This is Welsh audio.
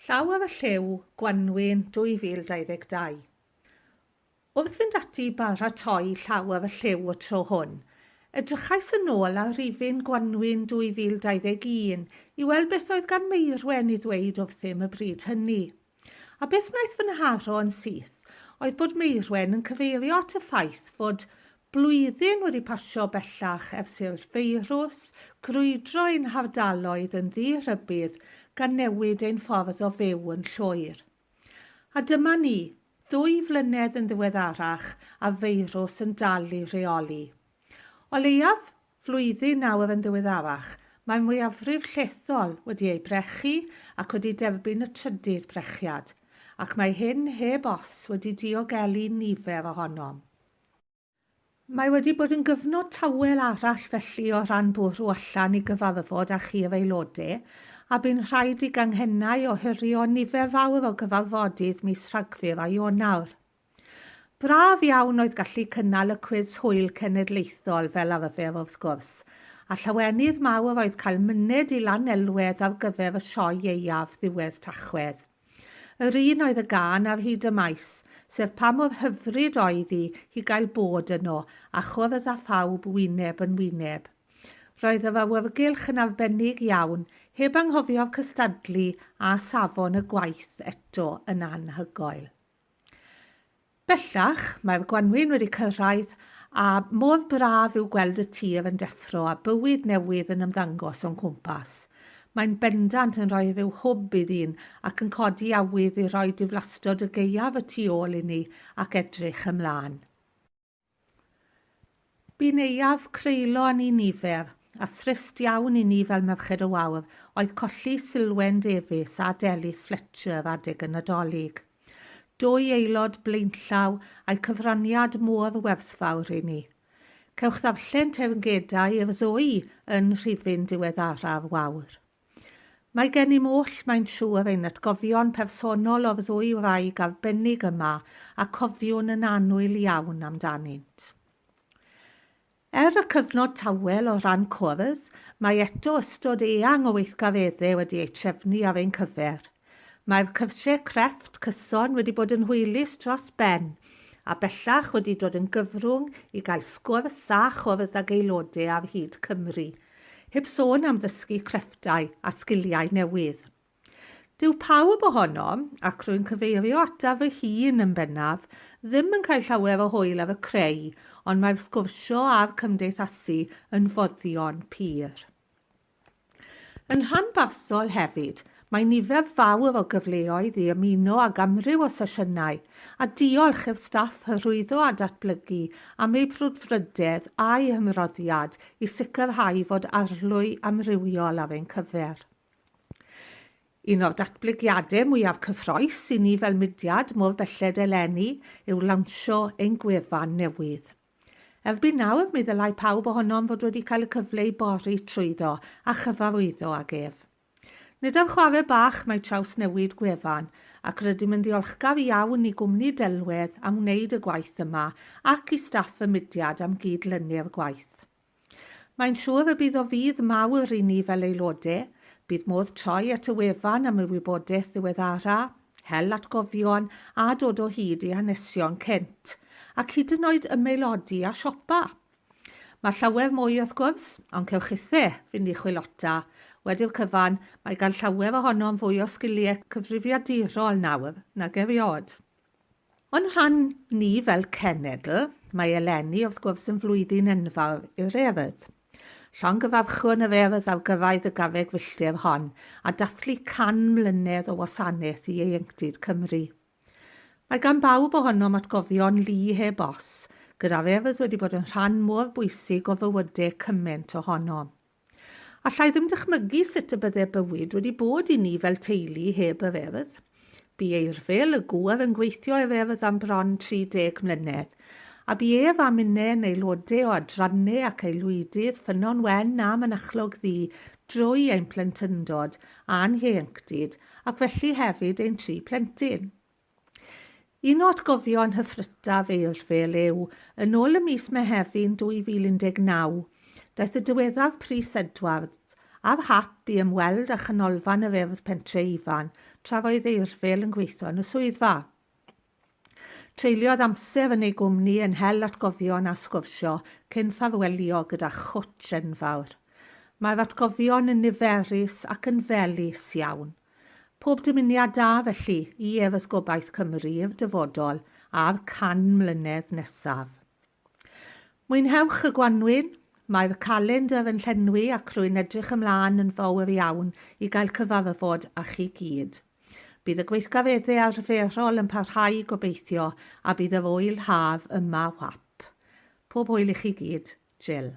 Llaw ar y Llyw, Gwanwyn 2022. Wrth fynd ati i baratoi Llaw ar y Llyw y tro hwn, edrychais yn ôl ar rifyn Gwanwyn 2021 i weld beth oedd gan Meirwen i ddweud wrthym y bryd hynny. A beth wnaeth fy nharo yn syth oedd bod Meirwen yn cyfeirio at y ffaith fod Blwyddyn wedi pasio bellach ers i'r feirws grwydro ein hardaloedd yn ddi-rhybudd gan newid ein ffordd o fyw yn llwyr. A dyma ni, ddwy flynedd yn ddiweddarach a feirws yn dal i reoli. O leiaf, flwyddyn nawr yn ddiweddarach, mae'r mwyafrif llethol wedi eu brechu ac wedi derbyn y trydydd brechiad, ac mae hyn heb os wedi diogelu nifer ohonom. Mae wedi bod yn gyfnod tawel arall felly o ran bwrw allan i gyfarfod â chi yr Aelodau, a bu'n rhaid i ganghennau ohirio nifer fawr o gyfarfodydd mis Rhagfyr a Ionawr. Braf iawn oedd gallu cynnal y cwis hwyl cenedlaethol fel arfer wrth gwrs, a llawenydd mawr oedd cael myned i Lanelwedd ar gyfer y sioe ieuaf ddiwedd Tachwedd. Yr un oedd y gân ar hyd y maes, sef pa mor hyfryd oedd hi hi gael bod yno, a chwrdd â phawb wyneb yn wyneb. Roedd yr awyrgylch yn arbennig iawn, heb anghofio'r cystadlu a safon y gwaith eto yn anhygoel. Bellach, mae'r gwanwyn wedi cyrraedd a mor braf yw gweld y tir yn deffro a bywyd newydd yn ymddangos o'n cwmpas. Mae'n bendant yn rhoi rhyw hwb i ddyn ac yn codi awydd i roi diflastod y gaeaf y tu ôl inni ac edrych ymlaen. Bu neuadd creulon i nifer, a thrist iawn i ni fel Merched y Wawr, oedd colli Silwen Davies a Delys Fletcher adeg y Nadolig. Dwy aelod blaenllaw a'u cyfraniad mor werthfawr i ni. Cewch ddarllen teyrngedau i'r ddwy yn rhifyn diweddaraf Wawr. Mae gennym oll, mae'n siŵr, ein atgofion personol o'r ddwy wraig arbennig yma a cofiwn yn annwyl iawn amdanynt. Er y cyfnod tawel o ran cwrdd, mae eto ystod eang o weithgareddau wedi eu trefnu ar ein cyfer. Mae'r cyrsiau crefft cyson wedi bod yn hwylus dros ben, a bellach wedi dod yn gyfrwng i gael sgwrs a chwrdd ag aelodau ar hyd Cymru, Heb sôn am ddysgu crefftau a sgiliau newydd. Dyw pawb ohonom, ac rwy'n cyfeirio ataf fy hun yn bennaf, ddim yn cael llawer o hwyl ar y creu, ond mae'r sgwrsio a'r cymdeithasu yn foddion pur. Yn rhanbarthol hefyd, Mae nifer fawr o gyfleoedd i ymuno ag amryw o sesiynau, a diolch i'r staff Hyrwyddo a Datblygu am eu brwdfrydedd a'u hymroddiad i sicrhau fod arlwy amrywiol ar ein cyfer. Un o'r datblygiadau mwyaf cyffrous i ni fel mudiad mor belled eleni yw lawnsio ein gwefan newydd. Erbyn nawr, mi ddylai pawb ohonom fod wedi cael y cyfle i bori trwyddo a chyfarwyddo ag ef. Nid am chwarae bach mae trawsnewid gwefan, ac rydym yn ddiolchgar iawn i gwmni delwedd am wneud y gwaith yma ac i staff y mudiad am gyd-lynu'r gwaith. Mae'n siŵr y bydd o fudd mawr i ni fel aelode, bydd modd troi at y wefan am y wybodaeth ddiweddara, hel atgofion a dod o hyd i hanesion Kent, ac hyd yn oed ymaelodi a siopa! Mae llawer mwy wrth gwrs, ond cewch chithe fynd i chwilota. Wedi'r cyfan, mae gan llawer ohonom fwy o sgiliau cyfrifiadurol nawr nag erioed. O'n rhan ni fel cenedl, mae eleni wrth gwrs yn flwyddyn enfawr i'r Urdd. Llongyfarchwn yr Urdd ar gyrraedd y garreg filltir hon a dathlu 100 mlynedd o wasanaeth i ieuenctid Cymru. Mae gan bawb ohonom atgofion lu heb os, gyda'r Urdd wedi bod yn rhan mor bwysig o fywyde cymaint ohonom. Alla i ddim dychmygu sut y bydde bywyd wedi bod i ni fel teulu heb yr Urdd. Bu Eirfil, y gŵr yn gweithio i'r Urdd am bron 30 mlynedd, a bu ef a minnau yn aelodau o adrannau ac aelwydydd Ffynnon Wen a Mynachlog Ddu drwy ein plentyndod a'n hieuenctid ac felly hefyd ein tri phlentyn. Un o atgofion hyfrytaf Eirfil yw, yn ôl y mis Mehefin 2019, daeth y diweddaf Prys Edwards ar hap i ymweld â Chanolfan yr Urdd Pentre Ifan tra oedd Eirfil yn gweithio yn y swyddfa. Treuliodd amser yn ei gwmni yn hel atgofion a sgwrsio cyn ffarwelio gyda chwtsh enfawr. Mae'r atgofion yn niferus ac yn felys iawn. Pob dymuniad da felly i Urdd Gobaith Cymru i'r dyfodol a'r can mlynedd nesaf. Mwynhewch y gwanwyn! Mae'r y calendr yn llenwi ac rwy'n edrych ymlaen yn fawr iawn i gael cyfarfod â chi gyd. Bydd y gweithgareddau arferol yn parhau gobeithio a bydd yr ŵyl haf yma whap. Pob hwyl i chi gyd. Jill.